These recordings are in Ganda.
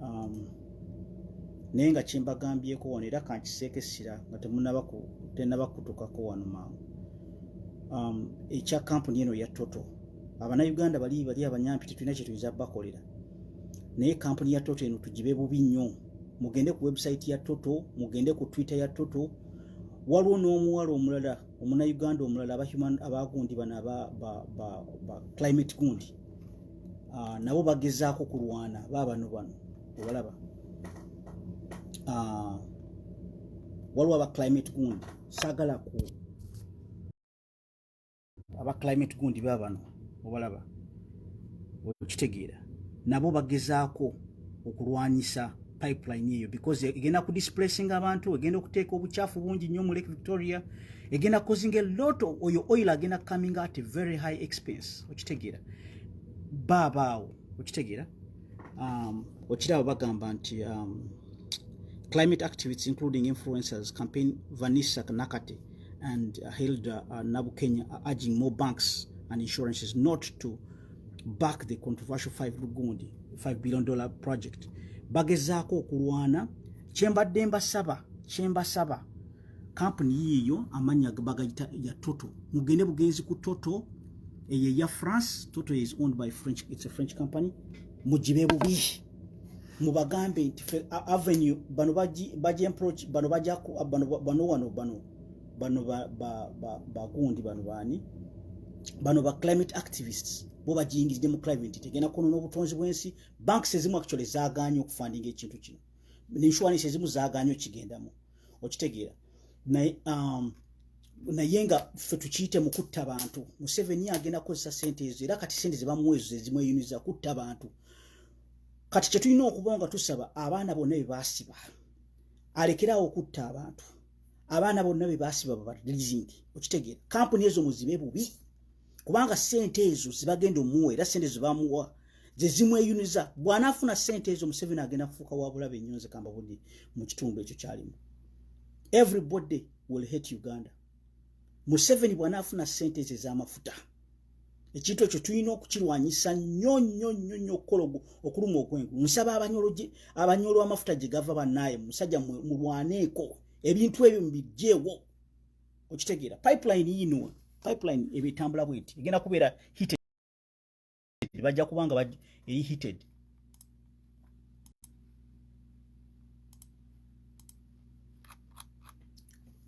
um, naye nga kyembagambyeko wano era kankiseeko essira nga tenaba kutukako wano mangu um, ekya kampuni eno ya toto abanauganda bali bali abanyampi tetulina kyetuyinza bakolera naye kampuni ya toto eno tugibe bubi nnyo mugende ku website ya toto mugende ku twitter ya toto waliwo n'omuwala omulala omunauganda omulala abagundi bano aba climate gundi ah, nabo bagezaako kulwana baabano bano obalaba ah, waliwo aba climate gundi saagala ku aba climate gundi baabano obalaba okitegeera nabo bagezaako okulwanyisa pipeline eyo because egenda ku displacing abantu egenda okuteeka obukyafu bungi nnyo mu lake victoria egenda causing a lot of oyo oil agenda coming at a very high expense okitegeera baabaawo okitegeera um, okiraba bagamba nti um, climate activists including influencers campaign vanessa nakate and uh, hilda uh, nabukenya are urging more banks and insurances not to back the controversial 5 lugundi 5 billion dollar project bagezaako okulwana kyembadde mbasaba kyembasaba kampuni yiiyo amannya bagayita ya toto mugende bugenzi ku toto eyo eya france toto is owned by french it's a french company mugibe bubi mubagambe nti fe avenue bano baji baji approach bano baja ku bano bano wano bano bano ba ba ba ba kundi bano bani bano ba climate activists bo bajingizide mu climate tegena kono no butonzi bwensi banks ezimu actually zaganyo kufunding ekintu kino ni insurance ezimu zaganyo kigendamo okitegeera naye um, naye nga ffe tukiyite mu kutta bantu museveni agenda kukozesa sente ezo era kati sente zebamuwezo zezimweyuniza kutta bantu kati kyetulina okuba nga tusaba abaana bonna bebasiba alekerawo okutta abantu abaana bonna bebasiba babadlizingi okitegeera kampuni ezo muzibe bubi kubanga sente ezo zibagenda omuwa era sente zebamuwa zezimweyuniza bwanafuna sente ezo museveni agenda kufuuka wabulabe nnyo nze kamba budde mu kitundu ekyo kyalimu everybody will hate uganda museveni bwanafuna sente ezo ezamafuta ekintu ekyo tulina okukirwanyisa nnyo nnyo nnyo nnyo okukola okuluma okwengu nsaba abanyolo amafuta gye gava banaye musajja mulwaneeko ebintu ebyo mubijjeewo okitegeera pipeline yinwa pipeline eba etambula bwe nti egenda kubeera hited bajja kuba nga eri hited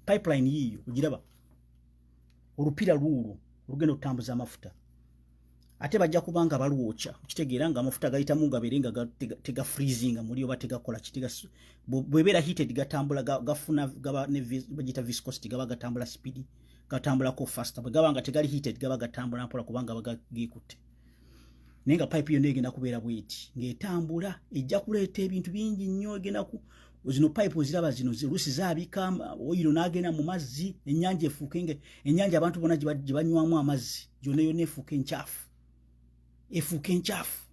pipeline yiiyo ogiraba olupiira lwuulwo olugenda okutambuza amafuta ate bajja kuba nga balwokya kitegeera nga amafuta gayitamu gabeere nga tega freezinga muli oba tegakola kitega bwebeera heated gatambula gafuna gaba bagiyita viscosity gaba gatambula speedi gatambulako faster bwe gaba nga tegali heated gaba gatambula mpola kubanga bagagikutte naye nga pipe yonna egenda kubeera bweti ng'etambula ejja kuleeta ebintu bingi nnyo egenda zino pipe oziraba zino lusi zabika oyiro nagenda mu mazzi enyanja efuuke nga enyanja abantu bona gibanywamu amazzi gyona yona efuuke enkyafu efuuke enkyafu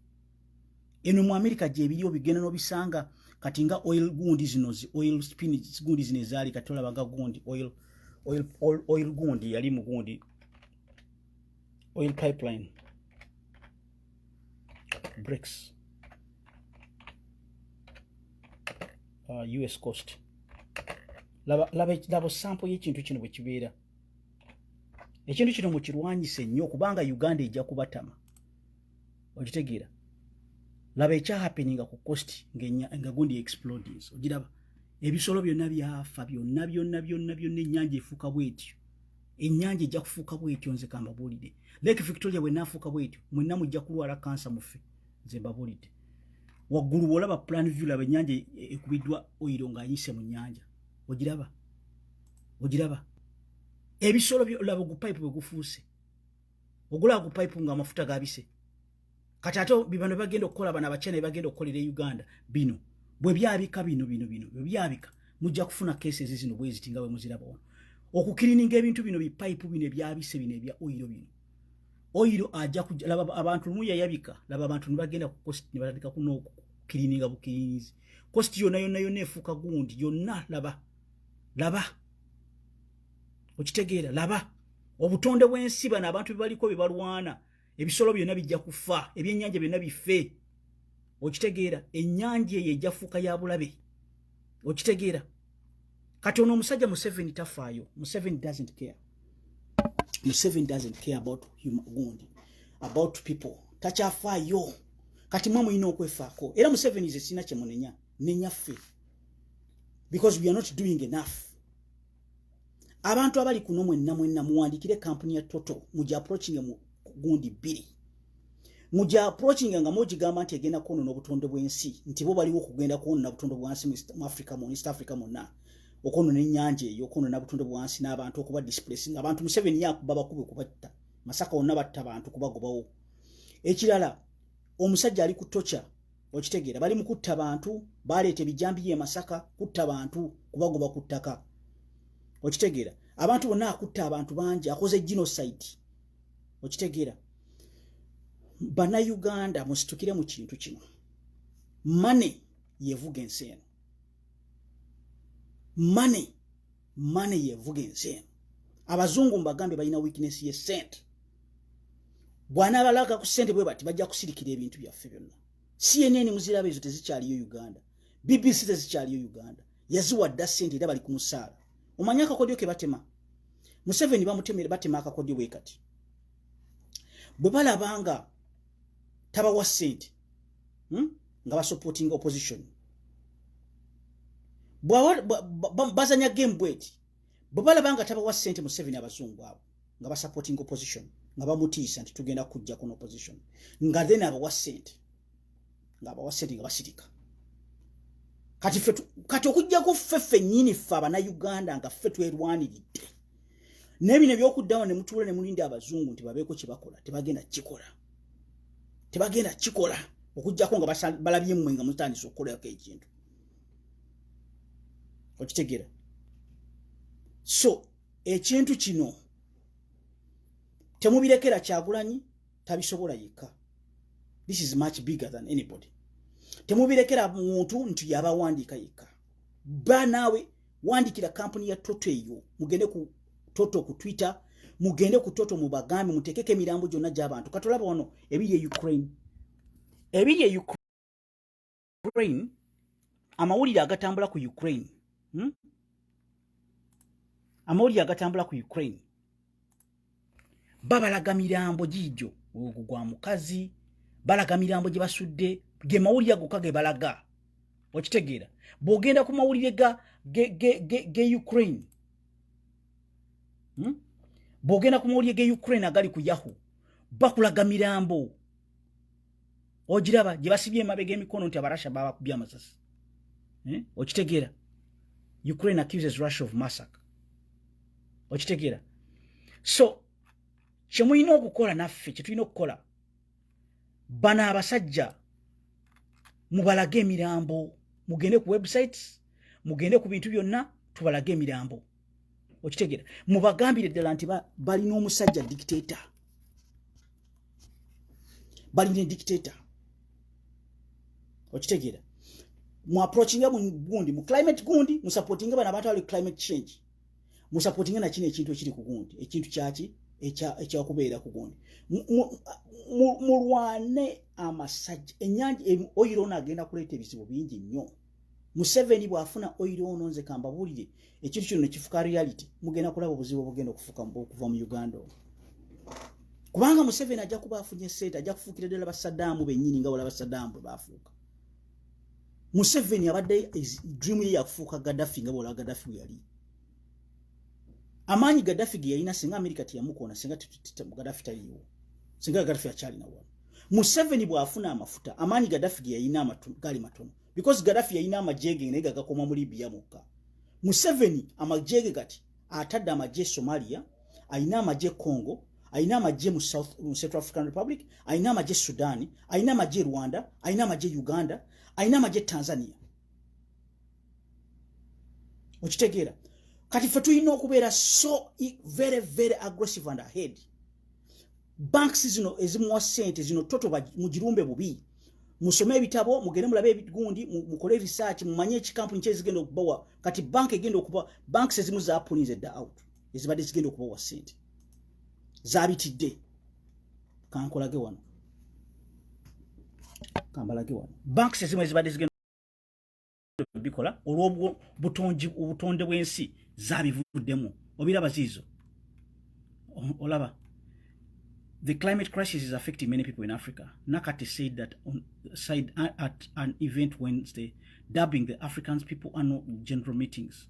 eno mu amerika gyebiri obigenda nobisanga kati nga oil gundi zino zi oil spin gundi zino ezaali kati olabaga gundi oil, oil, oil, oil gundi yali mu gundi oil pipeline bricks uh, us cost laba, laba, laba sample yekintu kino bwekibeera ekintu kino mukirwanyise nnyo kubanga uganda ejja kubatama okitegeera laba ekyahapeninga ku cost nga gundi explodings ogiraba ebisolo byonna byafa byonna byonna byonna byonna ennyanja efuuka bwetyo ennyanja ejja kufuuka bwetyo nze kambabuulidde lake victoria bwenaafuuka bwetyo mwenna mujja kulwala kansa muffe nze mbabuulidde waggulu bwolaba plan view laba ennyanja e, e, ekubiddwa oyiro ng'anyise mu nnyanja ogiraba ogiraba ebisolo laba ogupayipu bwe gufuuse ogulaba gupayipu ng'amafuta gabise kati ate bibano bagenda okukola bana bachina bagenda okukolera e uganda bino bwe byabika bino bino bino bwe byabika mujja kufuna cases zino bweziti nga bwe muziraba ono okukirininga ebintu bino bipayipu bino ebyabise bino ebya oyiro bino oyiro ajja kulaba abantu lumu yayabika laba abantu nibagenda ku cost nibatandika kuno okukirininga bukirinizi cost yona yona yona efuuka gundi yonna laba laba okitegeera laba obutonde bw'ensi bano abantu bebaliko bebalwana ebisolo byonna bijja kufa ebyennyanja byonna bife okitegeera ennyanja eyo ejafuuka ya bulabe okitegeera kati ono omusajja museveni tafaayo museveni doesn't care museveni doesn't care about himgund about people takyafaayo kati mwe mulina okwefaako era museveni ze sirina kyemunenya nenyaffe because we are not doing enough abantu abali kuno mwenna mwenna muwandikire kampuni ya toto muja approaching mu gundi bbiri muja approaching nga mugigamba nti egenda kwonona obutonde bw'ensi nti bo baliwo okugenda kwonona obutonde bwansi mu africa mu east africa mwonna okwonona ennyanja eyo okwonona obutonde bwansi n'abantu okuba displacing abantu museveni yakuba bakube kubatta masaka wonna batta bantu kubagobawo ekirala omusajja ali ku tocha okitegeera bali mu kutta bantu baleeta ebijambiya emasaka kutta bantu kubagoba ku ttaka okitegeera abantu bonna akutta abantu bangi akoze genocide okitegeera bannayuganda musitukire mu kintu kino mane yevuga ensi eno mane mane yevuga ensi eno abazungu mbagambye balina weakness ye sente bwanabalaga ku sente bwe bati bajja kusirikira ebintu byaffe byonna cnn muziraba ezo tezikyaliyo uganda bbc tezikyaliyo uganda yaziwa dda sente era bali ku musaala omanyi akakodyo ke batema museveni bamutemere batema akakodyo bwe kati bwe balabanga tabawa sente hmm? nga basupporting opposition bazanya game bweti bwebalaba nga tabawa sente museveni abazungu abo nga basupporting opposition nga bamutiisa nti tugenda kujja kuno opposition nga then abawa sente nga abawa sente nga basirika kati fe kati okujjako ffe ffennyini ffe abanauganda nga ffe twerwaniridde naye bino ebyokuddawo ne mutuula ne mulinda abazungu nti babeeko kye bakola tebagenda kukikola tebagenda kukikola okujjako nga balabye mmwe nga mutandisa okukolako ekintu okitegera so ekintu kino temubirekera kyagulanyi tabisobola yekka this is much bigger than anybody temubirekera muntu nti yabawandiika yekka ba naawe wandikira kampuni ya toto eyo mugende ku toto ku twitter mugende ku toto mubagambe mutekeko emirambo gyonna gyabantu katolaba wano ebiri e ukraine ebiri e ukraine Ukraine amawulire agatambula ku Ukraine hmm? amawulire agatambula ku Ukraine babalaga mirambo giijo ogwo gwa mukazi balaga mirambo gye basudde ge mawulire agoka ge balaga okitegeera bw'ogenda ku mawulire ga ge, ge, ge, ge Ukraine hmm? bw'ogenda ku mawulire ge Ukraine agali ku yahu bakulaga mirambo ogiraba gye basibye emabega emikono nti abarasha babakubye amasasi eh? okitegeera ukraine accuses russia of massacre okitegeera so kyemulina okukola naffe kyetulina okukola bano abasajja mubalage emirambo mugende ku websites mugende ku bintu byonna tubalage emirambo okitegera mubagambire ddala nti balina omusajja dictato balina dictato okitegera muaprochinga mugundi mu climate gundi musapotinga bana bata ali climate change musapotinga nakino ekintu ekiri ku gundi ekintu kyaki ekyakubeera ku gundi mulwane amasajja enyanja oyiroona agenda kuleeta ebizibu bingi nnyo museveni bwafuna oiro ono nze kambabulire ekintu kino nekifuka reality mugenda kulaba obuzibu obugenda okufuka okuva mu uganda ono kubanga museveni ajja kuba afunye sente ajja kufuukira ddala basadaamu benyini nga wala basadaamu bwe bafuuka museveni abadde dream ye yakufuuka gadafi nga bwala gadafi weyali amaanyi gadafi ge yalina singa amerika teyamukoona singa gadafi taliiwo singa gadafi akyalina wano museveni bwafuna amafuta amaanyi gadafi geyalina gaali matono because gadafi yalina amajege naye gagakoma mu libya mukka museveni amajege kati atadde amagye somalia alina amagye congo alina amagye mu central african republic alina amagye sudani alina amagye rwanda alina amagye uganda alina amagye tanzania okitegeera kati fe tulina okubeera so e, very very aggressive and ahead banks zino ezimuwa sente zino toto mugirumbe bubi musome ebitabo mugende mulabe ebigundi mukole research mumanye ekikampuni kyezigenda okubawa kati bank egenda okuba banks ezimu zapulinze dda out ezibadde zigenda okubawa sente zabitidde kankolage wano kambalage wano banks ezimu ezibadde zigenda bikola olwobutonde bwensi zabivuddemu obiraba ziizo olaba the climate crisis is affecting many people in africa nakati said that on side at an event wednesday dubbing the africans people annual general meetings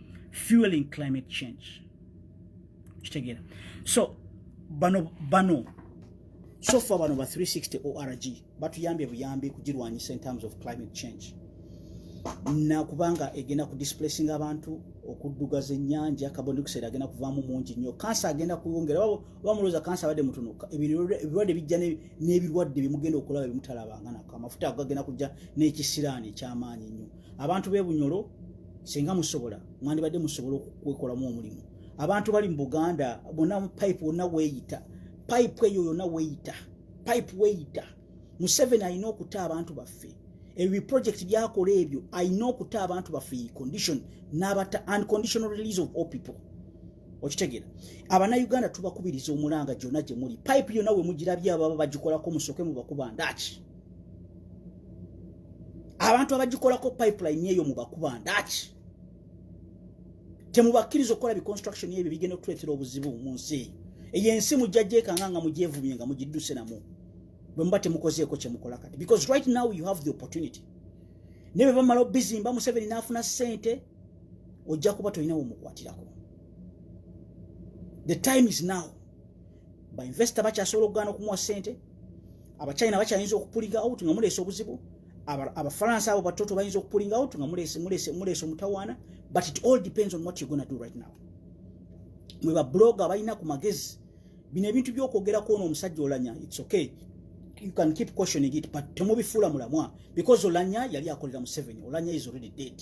fueling climate change kitegeera so bano bano sofa bano ba 360 org batuyambye buyambi kugirwanyisa in terms of climate change nakubanga egenda ku displacing abantu okuddugaza ennyanja carbon dioxide agenda kuvaamu mungi nnyo kansa agenda kuwongera bamuloza kansa abadde mutono ebirwadde bijja n'ebirwadde byemugenda okulaba byemutalabanga nako amafuta ago gagenda kujja n'ekisiraani ekyamaanyi nnyo abantu b'e bunyolo singa musobola mwandibadde musobola okukwekolamu omulimu abantu bali mu buganda bona pipe wonna weeyita pipe eyo yonna weeyita pipe weeyita museveni alina okuta abantu baffe ebyo project byakola ebyo alina okuta abantu baffe condition n'abata unconditional release of all people okitegera abanauganda tubakubiriza omulanga gyona gyemuli pipe yona wemugirabye ababa bagikolako musoke mubakuba ndaki abantu abagikolako pipeline eyo mubakuba ndaki temubakkiriza okukola biconstruction ebyo bigenda okutuleetera obuzibu mu nsi eyo eyo ensi mujjajekanga nga mugyevumye nga mugidduse namu bwe muba temukozeeko kyemukola kati because right now you have the opportunity naye bwe bamala obizimba museveni n'afuna ssente ojja kuba tolina womukwatirako the time is now bainvesita bakyasobola okugaana okumuwa sente abachina bakyayinza okupulinga out nga muleese obuzibu abafalansa abo batoto bayinza okupulinga out nga muleese omutawaana but it all depends on what you're gonna do right now mwe babloga balina ku magezi bino ebintu byokwogerako ono omusajja olanya its okay you can keep questioning it but temubifuula mulamwa because olanya yali akolera museven olanya is already dead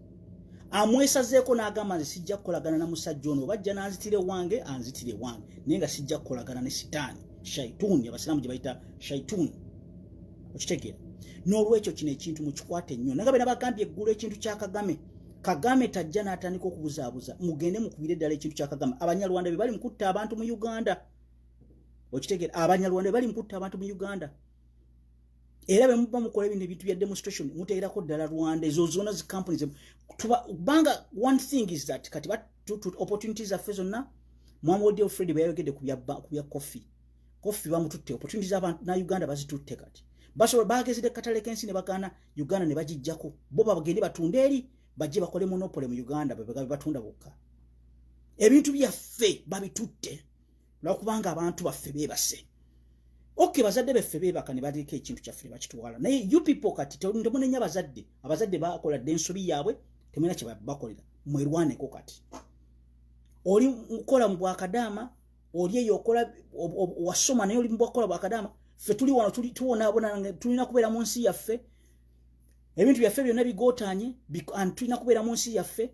amwesazeeko n'agamba nze sijja kukolagana na musajja ono oba ajja n'anzitira ewange anzitira ewange naye nga sijja kukolagana ne sitaani shaituuni abasiraamu gye bayita shaituuni okitegeera n'olwekyo kino ekintu mukikwate nnyo naga bena bagambye eggulu ekintu kya kagame kagame tajja n'atandika okubuzaabuza mugende mukubire eddala ekintu kya kagame abanyarwanda be bali mukutta abantu mu uganda okitegeera abanyarwanda be bali mukutta abantu mu uganda era bwe muba mukola ebintu ebintu bya demonstration muteerako ddala rwanda ezo zona zi companies kubanga one thing is that kati opportunity zaffe zonna mwami odeo fred bwe yayogedde ku bya coffee coffee bamututte opportunity za na uganda bazitutte kati basobola bagezedde katale kensi ne bagaana uganda ne bagijjako bo babagende batunde eri bajje bakole monopole mu uganda bebegabe batunda bokka ebintu byaffe babitutte lwakubanga abantu baffe bebase ok bazadde beffe bebaka ne baliiko ekintu kyaffe nebakitwala naye you people kati temunenya abazadde abazadde bakola dde ensobi yaabwe temulina kyebakolera mwerwaneko kati oli mukola mu bwakadaama oli eyo okola wasoma naye oli mubwakola bwakadaama ffe tuli wano tuwonaabona tulina kubeera mu nsi yaffe ebintu byaffe byonna bigotanye tulina kubeera mu nsi yaffe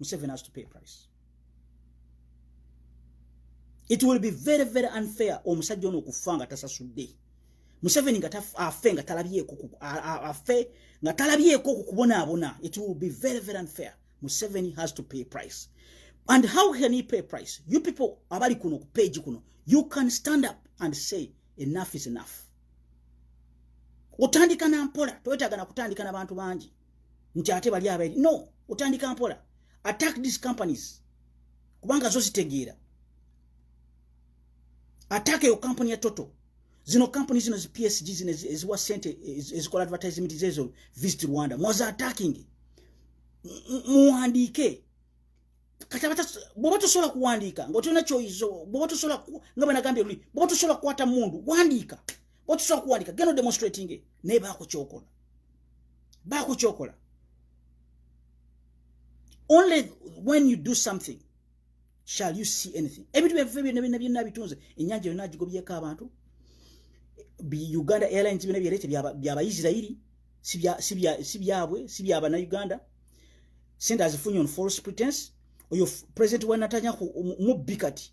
Museveni has to pay price it will be very very unfair omusajja ono okufa nga tasasudde museveni nga afe nga talabyeko afe nga talabyeko okukubonaabona it will be very very unfair museveni has to pay price and how can he pay price you people abali kuno ku page kuno you can stand up and say enough is enough otandika na mpola toyetagana kutandika na bantu bangi nti ate bali abaeri no otandika mpola attack these companies kubanga zo zitegeera attack eyo company ya toto zino company zino zi psg zino eziwa sente ezikola advertisement zezo visit rwanda mwaza attacking muwandiike bwoba tosobola kuwandiika ngaotolina kyoyizo bwoba tosobola nga bwenagambye luli bwoba tosobola kukwata mundu wandiika bwoba tosobola kuwandiika geno demonstrating naye baako kyokola bakukyokola only when you do something shall you see anything ebintu byaffe byonna byonna byonna bitunze ennyanja yonna agigobyeko abantu uganda airlines byonna byerete byabaisirairi si byabwe si byabanauganda sente azifunye on false pretense oyo president wa natanya mubbi kati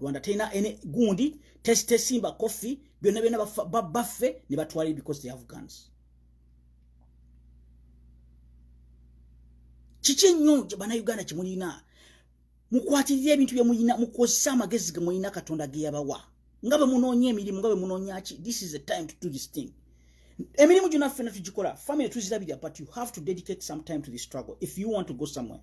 rwanda terina any gundi tesitesimba koffi byonna byonna baffe ne batwalire because they have guns kiki ennyo banauganda kyemulina mukwatirira ebintu byemulina mukozesa amagezi gemulina katonda geyabawa nga bwe munoonya emirimu nga bwe munoonya ki this is the time to do this thing emirimu gyona ffena tugikola family tuzirabira but you have to dedicate some time to the struggle if you want to go somewhere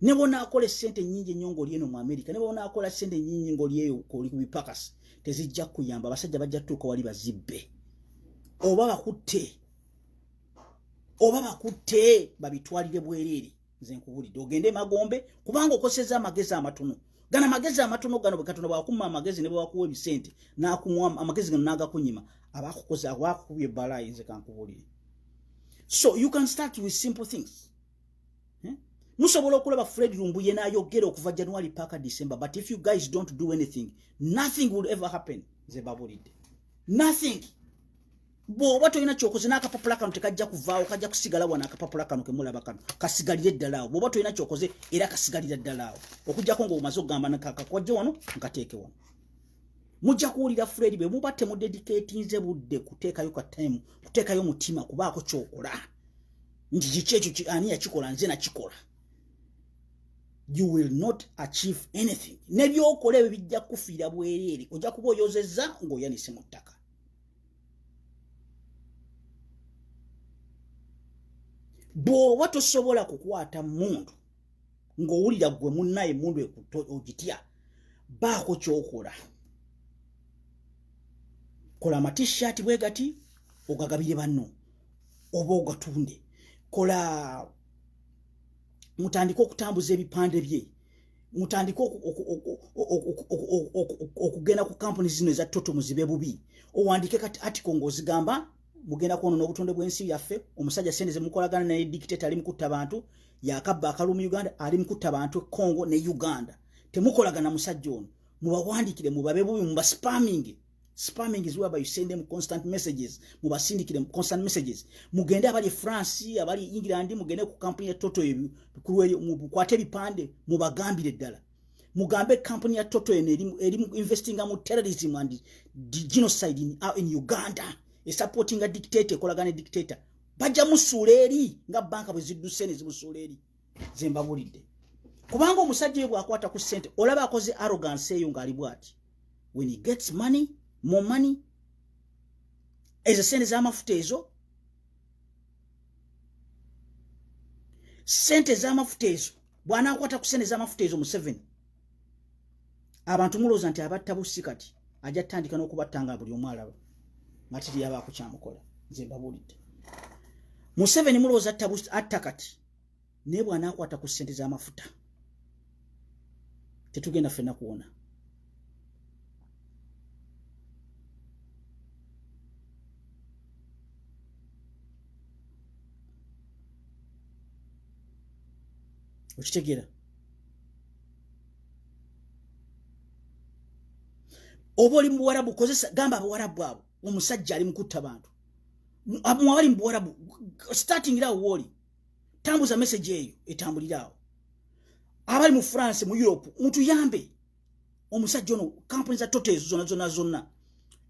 ne bwonaakola essente ennyingi ennyo ng'oli eno mu amerika ne bwonaakola ssente ennyingi ng'oli eyo oli ku bipakasi tezijja kuyamba abasajja bajja tutuuka wali bazibbe oba bakutte oba bakutte babitwalire bwereere nze nkubulidde ogende emagombe kubanga okoseza amagezi amatono gana magezi amatono gano bwekatonda bwakuma amagezi ne bwewakuwa ebisente nakuwa amagezi gano nagakunyima abakukoze abakukubye ebbalaayinze kankubulire so you can start with simple things hmm? musobola okulaba fred lumbuye nayogera okuva january paka december but if you guys don't do anything nothing will ever happen nze babulidde nothing bwoba tolina kyokoze n'akapapula kano tekajja kuvaawo kajja kusigala wano akapapula kano kemulaba kano kasigalire ddala awo bwoba tolina kyokoze era kasigalira ddala awo okugyako ngaomaze okugamba nakakakwajje wano nkateeke wano mujja kuwulira fred bwe muba temudediketinze budde kuteekayo kataimu kuteekayo mutima kubaako kyokola nti kiki ekyo ani yakikola nze nakikola you will not achieve anything nebyokola ebyo bijja kukufiira bwereere ojja kuba oyozezza ng'oyanise mu ttaka bw'oba tosobola kukwata mundu ng'owulira gwe munnaye mundu ogitya baako kyokola kola amatishaati bwe gati ogagabire banno oba ogatunde kola mutandike okutambuza ebipande bye mutandike okugenda ku kampuni zino eza toto muzibe bubi owandike kati atiko ngaozigamba mugenda kwonona obutonde bwensi yaffe omusajja sente zemukolagana naye dictate ali mukutta bantu yakabba akalu mu uganda ali mukutta bantu econgo ne uganda temukolagana musajja ono mubawandikire mubabe bubi mubaspaminge spamming is whereby you send them constant messages mubasindikire constant messages mugende abali france abali england mugende ku kampuni ya toto ebyo kulweyo mukwate bipande mubagambire ddala mugambe kampuni ya toto eno eri investinga mu terrorism and genocide in, uh, in uganda esupportinga dictator ekolagana dictator bajja musuula eri nga banka bwe zidduse ne zimusuula eri zembabulidde kubanga omusajja oyo bwakwata ku sente olaba akoze arrogance eyo ngaali bwati when he gets money more money ezo sente zamafuta ezo sente zamafuta ezo bwanakwata ku sente zamafuta ezo museveni abantu mulooza nti abatta bussi kati ajja tutandika n'okubatta nga buli omu alaba nga tiri yabaako kyamukola nze mbabulidde museveni mulowooza atta kati naye bw'anaakwata ku ssente z'amafuta tetugenda ffenna kuwona okitegeera oba oli muwarabu kozesa gamba abawarabu abo omusajja ali mukutta bantu muwali mubuwarabu starting irawo wooli tambuza message eyo etambuliraawo abali mu france mu europe mutuyambe omusajja ono kampuni za tote ezo zona zona zonna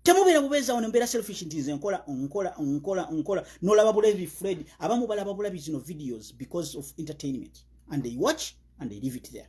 temubeera bubeezawo nembeera selfish nti nze nkola nkola nkola nkola nolaba bulabi fred abamu balaba bulabi zino videos because of entertainment and they watch and they leave it there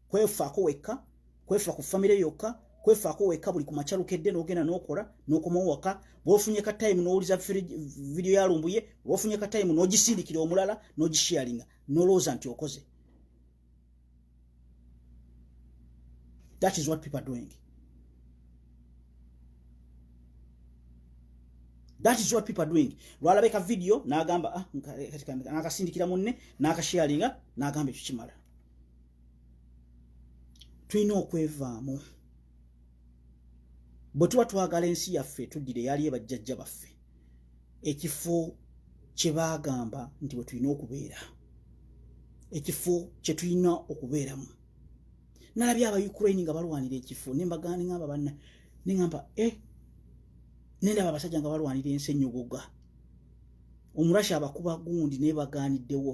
kwefaako wekka kwefa ku famire yokka kwefaako wekka buli ku makya lukedde n'ogenda n'okola n'okomawo waka bwofunye ka tayimu n'owuliza vidiyo ya lumbuye bwofunye ka tayimu n'ogisindikira omulala n'ogishiyalinga n'olowooza nti okoze that is what people are doing that is what people are doing lwalabe ka vidiyo n'agamba ah, nakasindikira munne n'akashiyalinga n'agamba ekyo kimala tulina okwevaamu bwe tuba twagala ensi yaffe tuddire yali ebajjajja baffe ekifo kye baagamba nti bwe tulina okubeera ekifo kye tulina okubeeramu nalabye aba ukraine nga balwanira ekifo nembagani ngamba banna nengamba e eh, nendaba abasajja nga balwanira ensi enyogoga omurashi abakuba gundi naye baganiddewo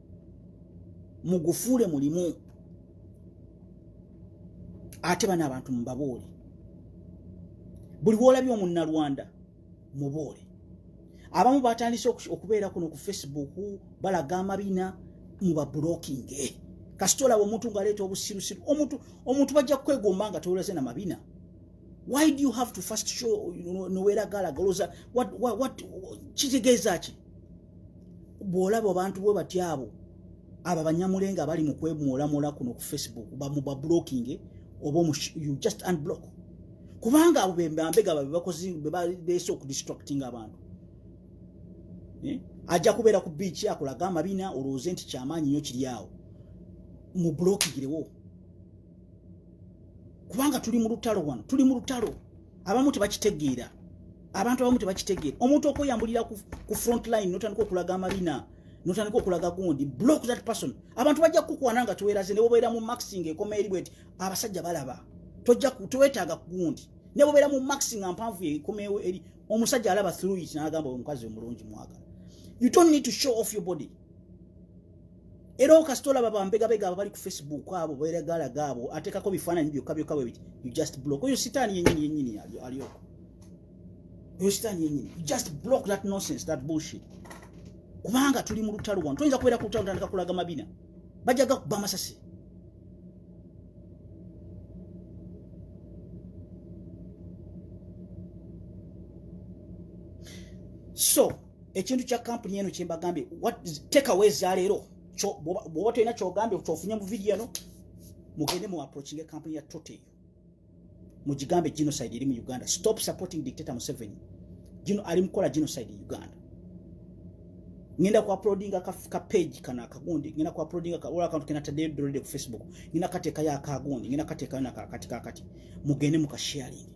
mugufuule mulimu ate bana abantu mubaboole buli woolabye omunnalwanda muboole abamu batandise okubeera kuno ku facebook balaga amabina mubabulokinge kasita olaba omuntu ngaaleeta obusirusiru omuntu omuntu bajja kukwegomba nga tewolaze na mabina why do you have to first show noweragalagaloza kitegeeza ki bwolaba abantu bwe batya abo abo abanyamulenga abali mu kwemwolamwola kuno ku facebook bamubablockinge oba you just unblock kubanga abo bembambega babebakozi bebalese okudistracting abantu eh? ajja kubeera ku biiki akulaga amabina olowooze nti kyamaanyi nyo kiri awo mublokigirewo kubanga tuli mu lutalo wano tuli mu lutalo abamu tebakitegeera abantu abamu tebakitegeera omuntu okweyambulira ku front line notandika okulaga amalina notandika okulaga gundi block that person abantu bajja kukukwana nga teweraze ne bobeera mu maxing ekoma eri bweti abasajja balaba tojja tewetaaga kugundi ne bobeera mu maxing ampanvu ekomeewo eri omusajja alaba through it n'agamba omukazi omulungi mwagala you don't need to show off your body era okasita olaba bambegabega abo bali ku facebook abo beregalaga abo atekako bifaananyi byokka byokka bwe biti you just block oyo sitaani yenyini yenyini alyoko oyo sitaani yenyini you just block that nonsense that bullshit kubanga tuli mu lutalo wano toyinza kubeera ku lutalo tandika kulaga mabina bajja gakuba amasasi so ekintu kya kampuni eno kyembagambye tekawa ezaleero bwoba tolina kyogambye kyofunye mu vidiyo eno mugende mu approaching e kampuni ya tote eyo mugigambe genocide eri mu uganda stop supporting dictator museveni gino ali mukola genocide e uganda ngenda ku uploadinga ka, ka page kano akagundi ngenda ku uploadinga ka ola akantu kenataddeyo dolede ku facebook ngenda kateekayo akagundi ngenda kateekayo nakakati kakati mugende mukasharingi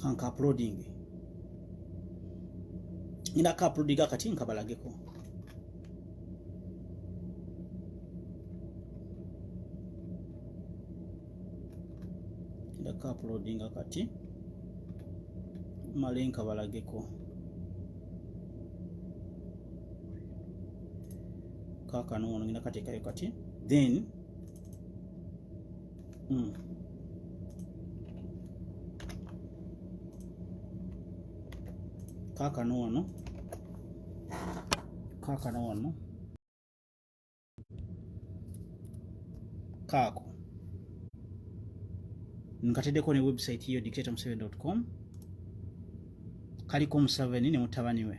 kanka uploading ngenda ka uploading akati nkabalageko ka uploading akati male nkabalageko kakano ono ngenda kateekayo kati then Mm. Kaka no wano. Kaka no wano. Kako. Nkatedeko ne website yo dictatormuseveni.com. Kaliko Museveni ne mutabani we.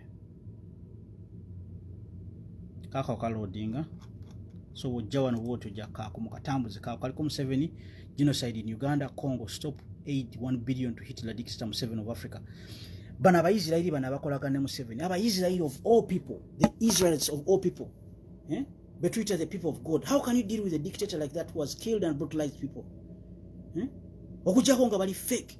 kaako kalodinga so wojja wano bwotyo jakkaako mukatambuze kaako kaliko museveni genocide in uganda congo stop aid 1 billion to hitler dictator museveni of africa bano abaisirairi bano abakolagana ne museveni abaisirairi of all people the israelites of all people eh? betuyita the people of god how can you deal with a dictator like that who has killed and brutalized people eh? okujjako nga bali fake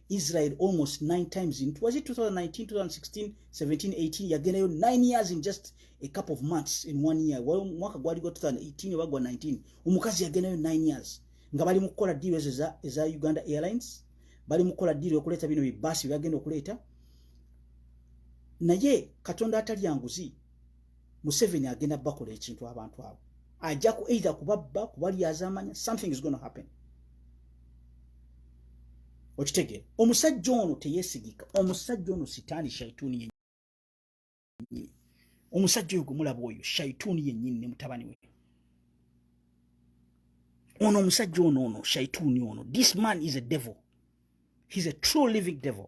Israel almost nine times in was it 2019, 2016, 17, 18 yagendayo nine years in just a couple of months in one year well, mwaka gwali gwa 2018 oba gwa 19 omukazi yagendayo nine years nga bali mu kukola deal ezo eza, eza Uganda Airlines bali mu kukola deal okuleeta bino bibasi byagenda okuleeta naye katonda atalya nguzi museveni agenda bakola ekintu abantu abo ajja ku either kubabba kubalyazamanya something is gonna happen okitegeera omusajja ono teyesigika omusajja ono sitaani shaituuni yenyini omusajja oyo gwemulaba oyo shaituuni yenyini ne mutabani we ono omusajja ono ono shaituuni ono this man is a devil he's a true living devil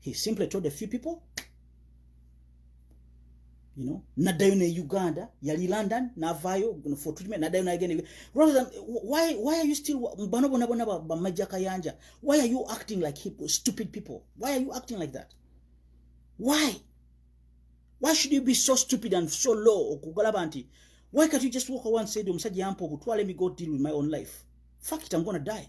he simply told a few people you know naddayo ne uganda yali london navaayo for treatment naddayo nagenda rather than why, why are you still bano bona bona bamajja kayanja why are you acting like hip, stupid people why are you acting like that why why should you be so stupid and so low okugalaba nti why can't you just walk away and say omusajja yampa obutwa let me go deal with my own life fuck it i'm gonna die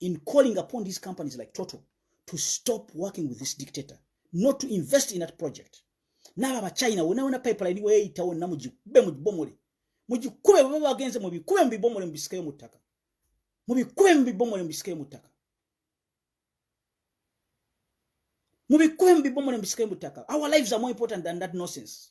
in calling upon these companies like Total to stop working with this dictator, not to invest in that project. Naba ba China, wena wena pipeline iwe ita wena mujikube mujibomole. Mujikube wababa wagenze mubikube mbibomole mbisike mutaka. Mubikube mbibomole mbisike mutaka. Mubikube mbibomole mbisike mutaka. Our lives are more important than that nonsense.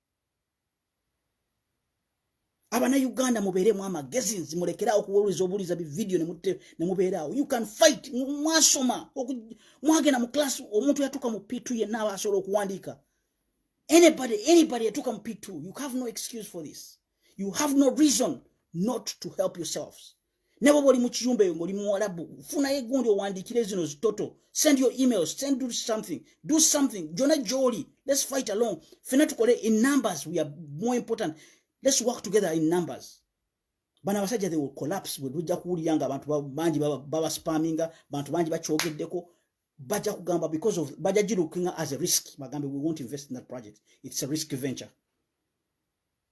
abana uganda mubeeremu amagezi nzimulekera okuwuliza obuuliza bividiyo nemubeeraawo you can fight mwasoma mwagenda mu class omuntu yatuuka mu p2 yenna aba asobola okuwandiika anybody anybody yatuuka mu p2 you have no excuse for this you have no reason not to help yourselves nabo boli mu kiyumba eyo ngoli muwalabu funayo egundi owandikire zino zitoto send your emails send do something do something jona joli let's fight along fena tukole in numbers we are more important let's work together in numbers bano abasajja they will collapse bwe tujja kuwulira nga abantu bangi babaspaminga bantu bangi bakyogeddeko bajja kugamba because of bajja girukinga as a risk bagambe we won't invest in that project it's a risk venture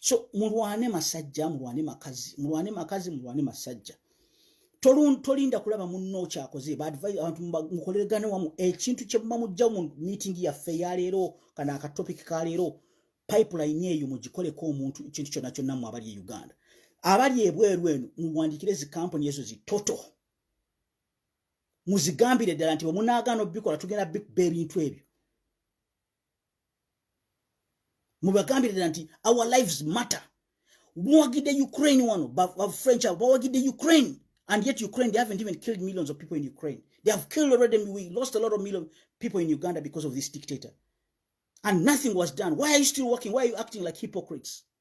so mulwane masajja mulwane makazi mulwane makazi mulwane masajja tolinda kulaba munno okyakoze abantu mukoleregane wamu ekintu kyemuba mujja mu meeting yaffe yaleero kana akatopic kaleero pipeline eyo mugikoleko omuntu ekintu kyonna kyonna mu abali e uganda abali ebweru eno muwandikire zi kampuni ezo zi toto muzigambire ddala nti bwemunaagaana obikola tugenda bikuba ebintu ebyo mubagambire ddala nti our lives matter muwagidde ukraine wano bafrench abo bawagidde ukraine and yet ukraine they haven't even killed millions of people in ukraine they have killed already we lost a lot of million people in uganda because of this dictator and nothing was done why are you still working why are you acting like hypocrites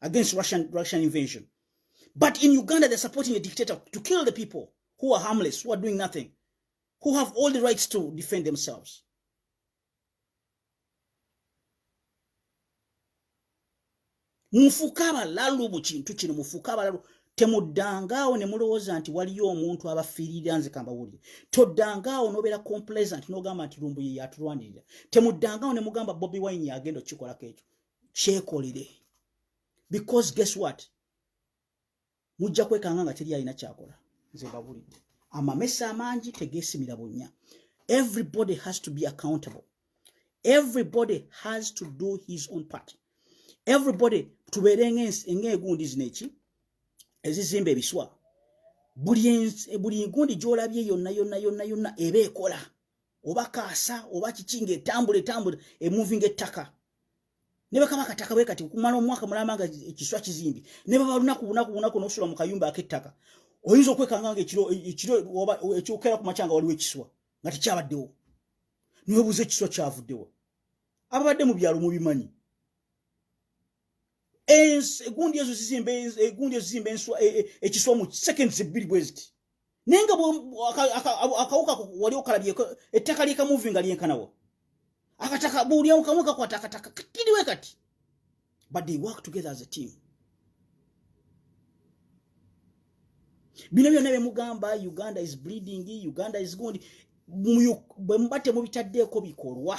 against Russian, Russian invasion. But in Uganda, they're supporting a dictator to kill the people who are harmless, who are doing nothing, who have all the rights to defend themselves. mufuuke abalalu mu kintu kino mufuuke abalalu temuddangaawo ne mulowooza nti waliyo omuntu abafiirira nze kambawulire toddangaawo n'obeera complacent n'ogamba nti lumbuye yatulwanirira temuddangaawo ne mugamba bobi wine yagenda okukikolako ekyo kyekolere because guess what mujja kwekanga nga teri alina kyakola nze babulidde amamesa amangi tegesimira bunya everybody has to be accountable everybody has to do his own part everybody tubeere ngaegundi zino eki ezizimba ebiswa buli ngundi gyolabye yonna yonna yonna yonna eba ekola oba kaasa oba kiki nga etambula etambula emuvi nga ettaka ne bakaba akataka bwe kati okumala omwaka mulamba nga ekiswa kizimbi ne baba lunaku bunaku bunaku n'okusula mu kayumba ak'ettaka oyinza okwekanga nga ekiro ekiro oba ekyokera ku makyanga waliwo ekiswa nga tekyabaddewo niwebuuza ekiswa kyavuddewo ababadde mu byalo mubimanyi egundi ezo zizimba egundi ezo zizimba enswa e, e, ekiswa mu seconds ebbiri bweziti naye nga akawuka wali okalabyeko ettaka lyeka muvi nga lyenkanawo akataka buulyamu kamu kakwata akataka kakiriwe kati but they work together as a team bino byonna byemugamba uganda is bleeding uganda is gundi bwemuba temubitaddeeko bikolwa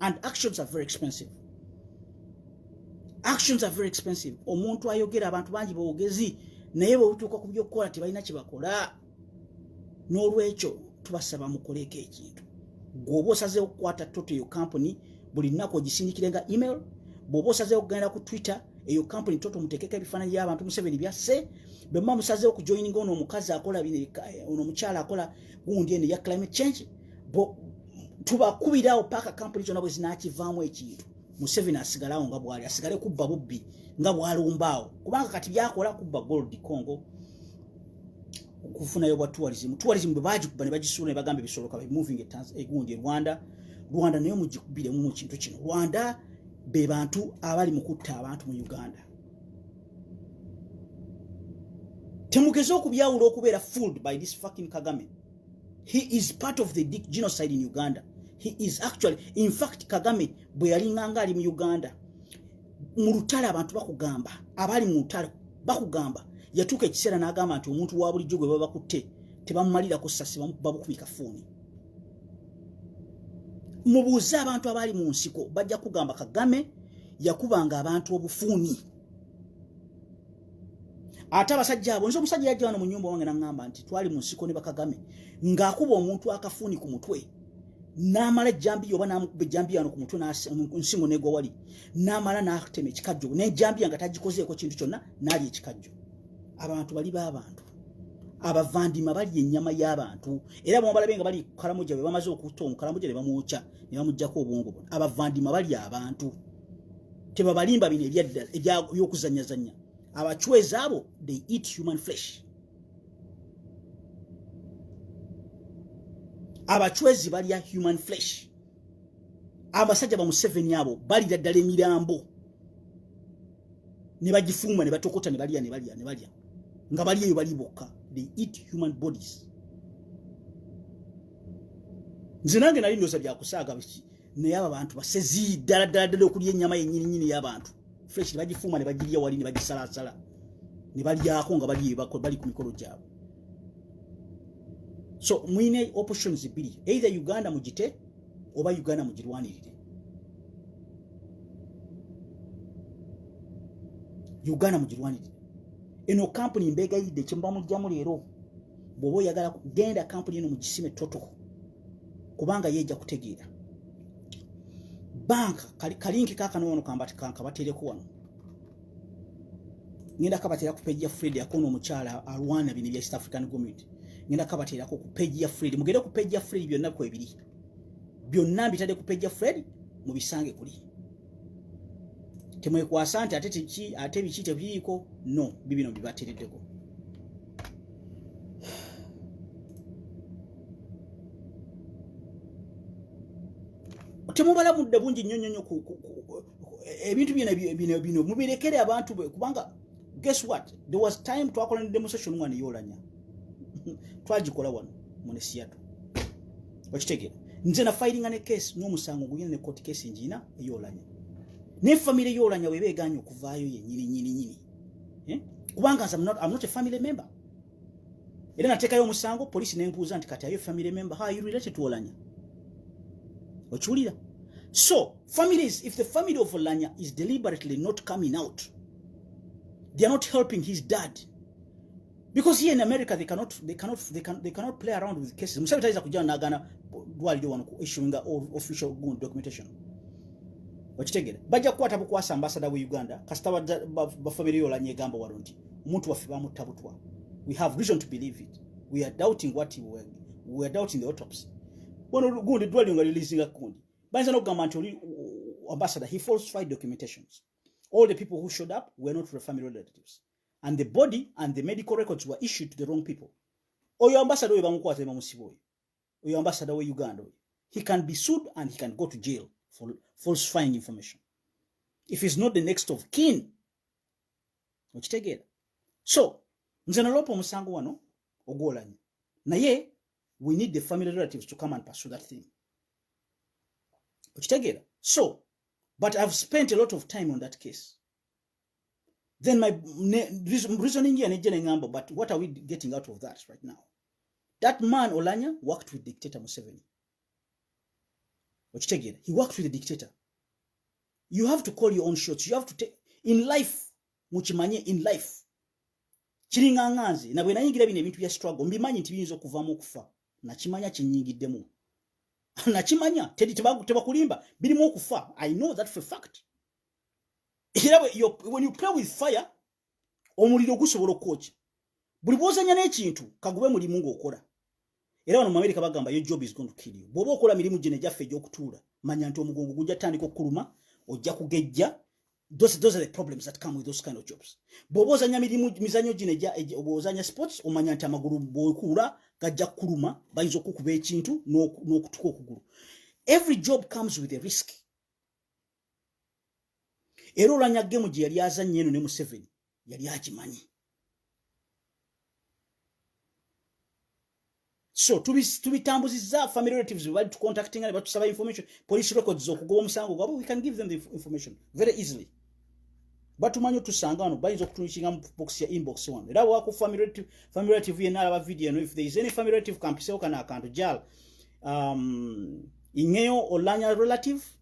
and actions are very expensive actions are very expensive omuntu ayogera abantu bangi bogezi naye bwebutuuka ku byokukola tebalina kyebakola n'olwekyo tubasaba mukoleeko ekintu gweoba osazeewo okukwata toto eyo kampuni buli nnaku ogisindikire nga email bweoba osazeewo okugenda ku twitter eyo kampuni toto muteekeko ebifaananyi by'abantu museveni byasse bwemuba musazeewo okujoyininga ono omukazi akola bino eh, ono omukyala akola gundi eno eya climate change tubakubirawo paaka kampuni zona bwe zinakivaamu ekintu museveni asigalawo nga bwali asigale kubba bubbi nga bwalumbaawo kubanga kati byakola kubba gold congo okufunayo bwa tourism tourism bwe bagikuba ne bagisuula ne bagamba ebisoloka be moving egundi e rwanda rwanda naye mugikubiremu mu kintu kino rwanda be bantu abali mu kutta abantu mu uganda temugeze okubyawula okubeera fooled by this fucking kagame he is part of the genocide in uganda he is actually in fact kagame bwe yalinganga ali mu uganda mu lutale abantu bakugamba abali mu lutale bakugamba yatuuka ekiseera n'agamba nti omuntu wa bulijjo gwe baba bakutte tebamumalirako sasi babukubika fuuni mubuuze abantu abali mu nsiko bajja kugamba kagame yakubanga abantu obufuuni ate abasajja abo nze omusajja yajja wano mu nyumba wange naŋŋamba nti twali mu nsiko ne bakagame ng'akuba omuntu akafuuni ku mutwe n'amala ejjambiya oba n'amukuba ejjambiya wano ku mutwe nsingo negwa wali n'amala n'atema ekikajjo n'ejjambiya nga tagikozeeko kintu kyonna n'ali ekikajjo abantu bali b'abantu abavandima balya ennyama y'abantu era bamabalabe nga bali kukalamuja bwe bamaze okuta omukalamuja ne bamwokya ne bamugyako obwongo bona abavandima balya abantu tebabalimba bino ebyaddala ebyokuzanyazanya abachwezi abo they eat human flesh abachwezi balya human flesh abasajja bamuseveni abo balira ddala emirambo ne bagifuuma ne batokota ne balya ne balya ne balya nga bali eyo bali bokka they eat human bodies nze nange nali ndoza byakusaaga biki naye abo abantu basezi ddala ddala ddala okulya ennyama yennyini nyini y'abantu fresh ne bagifuuma ne bagirya wali ne bagisalaasala ne balyako nga bali ku mikolo gyabwe so mulina options bbiri either uganda mugite oba uganda mugirwanirire uganda mugirwanirire eno kampuni mbeegayidde kyemuba mugyamu leero bwoba oyagala genda kampuni eno mugisime totoko kubanga yeja kutegeera banka kalinki kakanowono kambati kankabatereko wano ngenda kabatera ku page ya Fred yakona omukyala alwana bino bya East African Community ngenda kabatera ku page ya Fred mugere ku page ya Fred byonna kwebiri byonna mbitade ku page ya Fred mubisange kuli temwekwasa nti ate teki ate biki tebiyiiko no bibino bibatereddeko temubala budde bungi nnyo nnyo nnyo ebintu byona bino bino mubirekere abantu be kubanga guess what there was time twakola ne demonstration one eyolanya twagikola wano mu nesiyatu okitegera nze na filinga ne case n'omusango guyina ne court case njina eyolanya ne family yolanya webe eganye okuvaayo yenyini nyini nyini eh? kubanga nze I'm not, I'm not a family member era natekayo omusango polisi nembuuza nti kati ayo family member how you related to olanya okiwulira so families if the family of olanya is deliberately not coming out they are not helping his dad because here in america they cannot they cannot they can they cannot play around with cases musabe taiza kujana nagana dwali wano ku issuing official gun documentation okitegera bajja kukwata bukwasa ambasada we uganda kasita bafamire yolanye egamba wano nti omuntu waffe bamutta butwa we have reason to believe it we are doubting what he were, we are doubting the autopsy wano gundi dwali nga releasinga kundi bayinza nokugamba nti oli ambasada he falsified documentations all the people who showed up were not family relatives and the body and the medical records were issued to the wrong people oyo ambasada oyo bamukwata nebamusiba oyo oyo ambasada we uganda oyo he can be sued and he can go to jail for falsifying information if he's not the next of kin okitegeera so nze naloopa omusango wano ogwolanyo naye we need the family relatives to come and pursue that thing okitegeera so but i've spent a lot of time on that case then my reasoning here nejje nengamba but what are we getting out of that right now that man olanya worked with dictator museveni okitegeera he worked with the dictator you have to call your own shots you have to take in life mukimanye in life kiringa nga nze nabwe nayingira bino ebintu bya struggle mbimanyi nti biyinza okuvamu okufa nakimanya kinyingiddemu nakimanya tebakulimba birimu okufa i know that for fact era when you play with fire omuliro gusobola okwokya buli bwozanya n'ekintu kagube mulimu ng'okola era wano mu amerika bagamba yo job is going to kill you bw'oba okola mirimu gino egyaffe egy'okutuula manya nti omugongo gujja tandika okukuluma ojja kugejja those, those are the problems that come with those kind of jobs bw'oba ozanya mirimu mizanyo gino ozanya sports omanya nti amagulu bwekuula gajja kukuluma bayinza okukuba ekintu n'okutuka okugulu every job comes with a risk era olanya gemu gye yali azannya eno ne museveni yali akimanyi so tubitambuzizza tubi family relatives bali tucontactinga ne batusaba information police records okugoba omusango gwabwe we can give them the information very easily batumanyi otusanga wano bayinza okutunukinga mu box ya inbox wano era waku family relative yenna alaba video eno if there is any family relative kampisewo kana akantu jal um, ingeyo olanya relative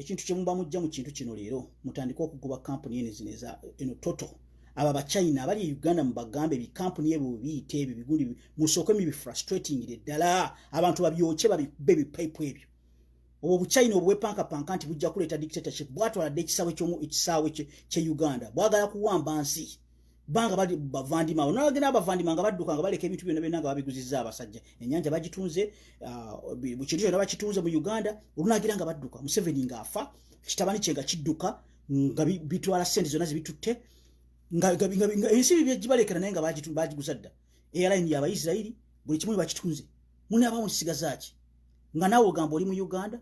ekintu kyemuba mujja mu kintu kino leero mutandike okugoba kampuni eno zino eza eno toto abo abachina abali e uganda mubagambe bikampuni ebyo biyite ebyo bigundi musooke mibifrustratingire ddala abantu babyokye babikube bipipe ebyo obwo obuchina obwepankapanka nti bujja kuleeta dictatorship bwatwaladde ekisaawe ekisaawe kye uganda bwagala kuwamba nsi banga bali bavandima ono agenda abavandima nga badduka nga baleka ebintu byona byona nga babiguziza abasajja enyanja bagitunze ah, mu kintu kyona bakitunze mu uganda olunagira nga badduka museveni nga afa kitabani kye nga kidduka nga bitwala sente zona zibitutte ensi bibye gibalekera naye nga bagiguza dda eyalaini yabaisirairi buli kimu bakitunze mune abamu kisigazaki nga nawe ogamba oli mu uganda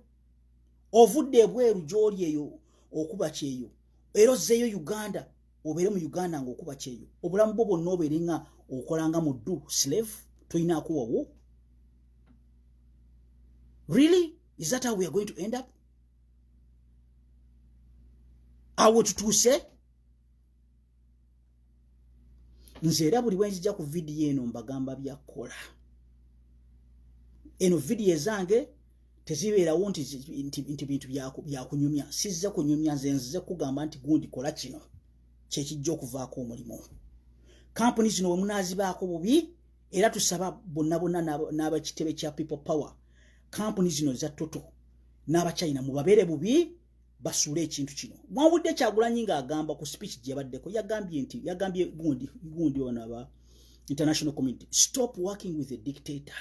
ovudde ebweru gyoli eyo okuba kyeyo era ozzeeyo uganda obeere mu uganda nga okuba kyeyo obulamu bwo bwonna obeere nga okolanga mu ddu slave tolina akuwawo really is that how we are going to end up awo tutuuse nze era buli bwenzija ku vidiyo eno mbagamba byakola eno vidiyo ezange tezibeerawo nti nti bintu byakunyumya sizze kunyumya nze nzize kugamba nti gundi kola kino kyekijja okuvaako omulimu kampuni zino wemunazibaako bubi era tusaba bonna bonna n'abakitebe kya people power kampuni zino eza toto n'abachina mubabeere bubi basuule ekintu kino mwawudde kyagulanyi ng'agamba ku speech gyebaddeko yagambye nti yagambye gundi gundi ono aba international community stop working with a dictator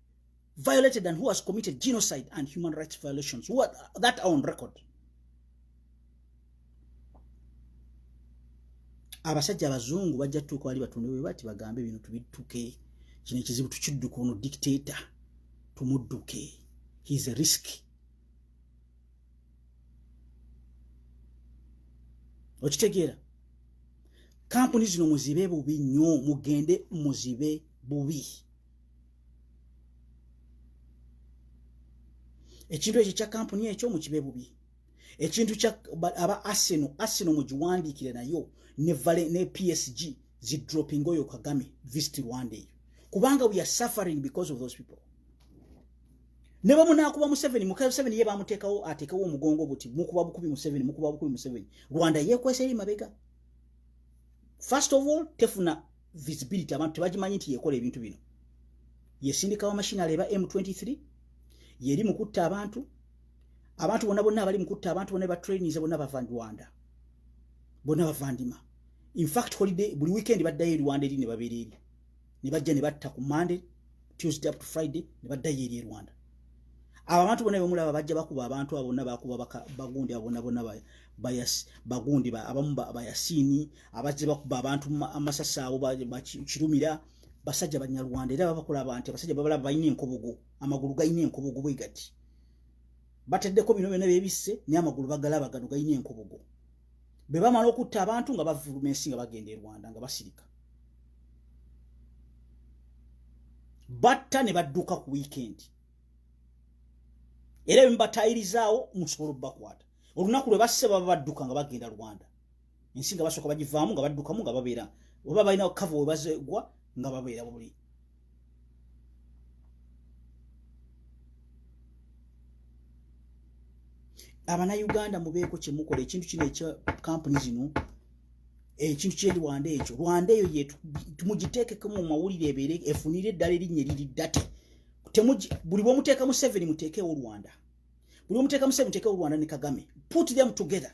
violated and who has committed genocide and human rights violations who are, that are on record abasajja abazungu bajja tutuuka wali batonde bwe bati bagambe bino tubituke kino ekizibu tukidduka ono dictator tumudduke heis a risk okitegeera kampuni zino muzibe bubi nnyo mugende muzibe bubi ekintu ekyo kya kampuni ekyo mukibe bubi ekintu kya aba arsenal arsenal mugiwandiikire nayo ne vale ne psg zi dropping oyo kagame visit rwanda eyo kubanga we are suffering because of those people ne bamu nakuba museveni mukayo museveni ye bamuteekawo ateekawo omugongo buti mukuba bukubi museveni mukuba bukubi museveni rwanda yekwesa eri mabega first of all tefuna visibility abantu tebagimanyi nti yekola ebintu bino yesindikawo mashini aleeba m23 yeri mukutta abantu abantu bona bonna abali mukutta abantu bona batrainise bonna bava rwanda bona bavandima infact holiday buli weekend baddayo e rwanda eri ne babeera eri ne bajja ne batta ku monday tuesday up to friday ne baddayo eri e rwanda abo abantu bona bemulaba bajja bakuba abantu abona bakuba bagundi abona bona bayas bagundi abamu bayasini abazze bakuba abantu amasasi abo bakirumira basajja banyarwanda era babakola abantu abasajja babalaba balina enkobogo amagulu galina enkobogo bwe gati bateddeko bino byona byebisse naye amagulu bagalaba gano galina enkobogo bwe bamala okutta abantu nga bavuluma ensi nga bagenda e rwanda nga basirika batta ne badduka ku wiikendi era ebimu batayirizaawo musobola obubakwata olunaku lwe basse baba badduka nga bagenda rwanda ensi nga basooka bagivaamu nga baddukamu nga babeera oba balina okukava webazegwa nga babeera buli abanauganda mubeeko kyemukola ekintu kino ekya kampuni zino ekintu kye rwanda ekyo rwanda eyo yemugiteekeko mu mawulire ebeere efunire eddala erinnya eriri date buli bwomuteeka museveni muteekewo rwanda buli bwomuteeka museveni muteekewo rwanda ne kagame put them together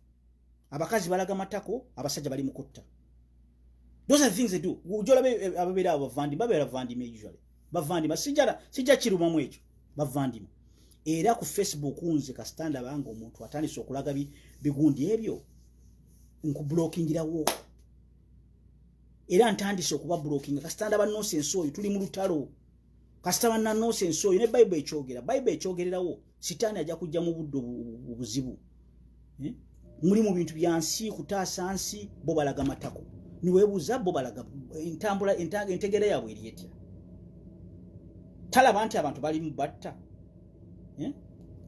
abakazi balaga matako abasajja bali mukutta those are things they do ujola eh, ababera abavandi babera vandi me usually bavandi masijara sija kiruma mwejo bavandi era ku facebook unze ka stand abanga omuntu atandise okulaga bi bigundi ebyo nku blocking ira wo era ntandise okuba blocking ka stand aba nonsense oyo tuli mu lutalo ka stand aba nonsense oyo ne bible echogera bible echogerera wo sitaani ajja kujja mu budde obuzibu eh? muli mu bintu bya nsi kutaasa nsi bo balaga matako niwebuuza bo balaga entambula entegeera yaabwe eri etya talaba nti abantu balimu batta eh?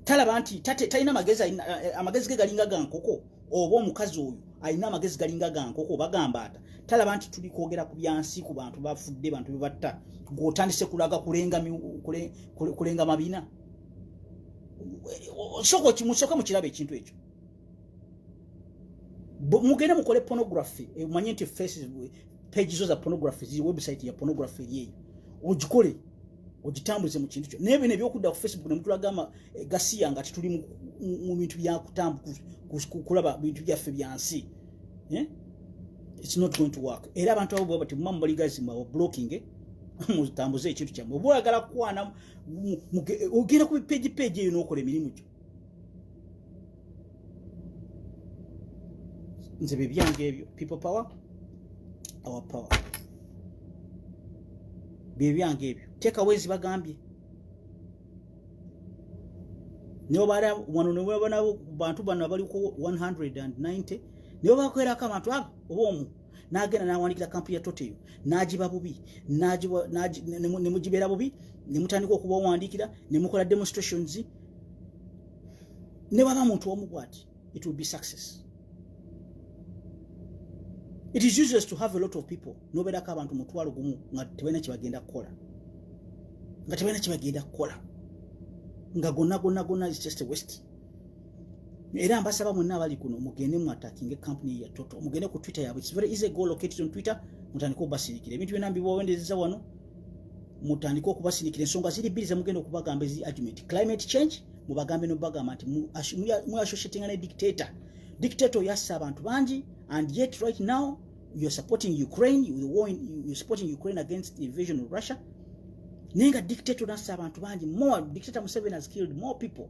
talaba nti talina magezi eh, amagezi ge galinga ga nkoko oba omukazi oyo alina amagezi galinga ga nkoko oba gambaata talaba nti tuli kwogera ku byansi ku bantu bafudde bantu bebatta gweotandise kulaga kulenga mabina osoko kimusoka mukiraba ekintu ekyo mugende mukole pornography omanye eh, nti faces page zo za pornography ziri website ya pornography eri eyo ogikole ogitambuze mu kintu kyo naye bino ebyokudda ku facebook nemutulaga eh, gasiya nga tituli mu bintu byakutambukulaba bintu byaffe byansi eh? its not going to work era abantu abo bwaba temumamu baligazimawo blocking eh? mutambuze ekintu kyamwe oba oyagala kukwana ogenda ku bipeji peji eyo nokola emirimu gyo nze bebyange ebyo people power our power byebyange ebyo tekawezi bagambye nobala wano newabanawo bantu bano abaliko 190 nibo bakwerako abantu abo oba omu n'agenda n'awandiikira kampuni ya toteyo n'agiba bubi ne mugibeera bubi ne mutandika okuba owandiikira ne mukola demonstrations ne baba muntu omu bwati it will be success it is useless to have a lot of people nobeerako abantu mutwalo gumu nga tebalina kyebagenda kukola nga tebalina kyebagenda kukola nga gonna gonna gonna is just a west era mbasaba mwenna abali kuno mugende mu atakinge kampuni ya toto mugende ku twitter yabwe very easy go located on twitter mutandike okubasirikira ebintu byona mbibawendereza wano mutandike okubasirikira ensonga ziri bbiri zemugenda okubagamba ezi argument climate change mubagambe nobagamba nti muassociatinga ne dictator dictator yassa abantu bangi and yet right now you're supporting ukraine the war in, you're supporting ukraine against the invasion of russia naye nga dictator nassa abantu bangi more dictator museveni has killed more people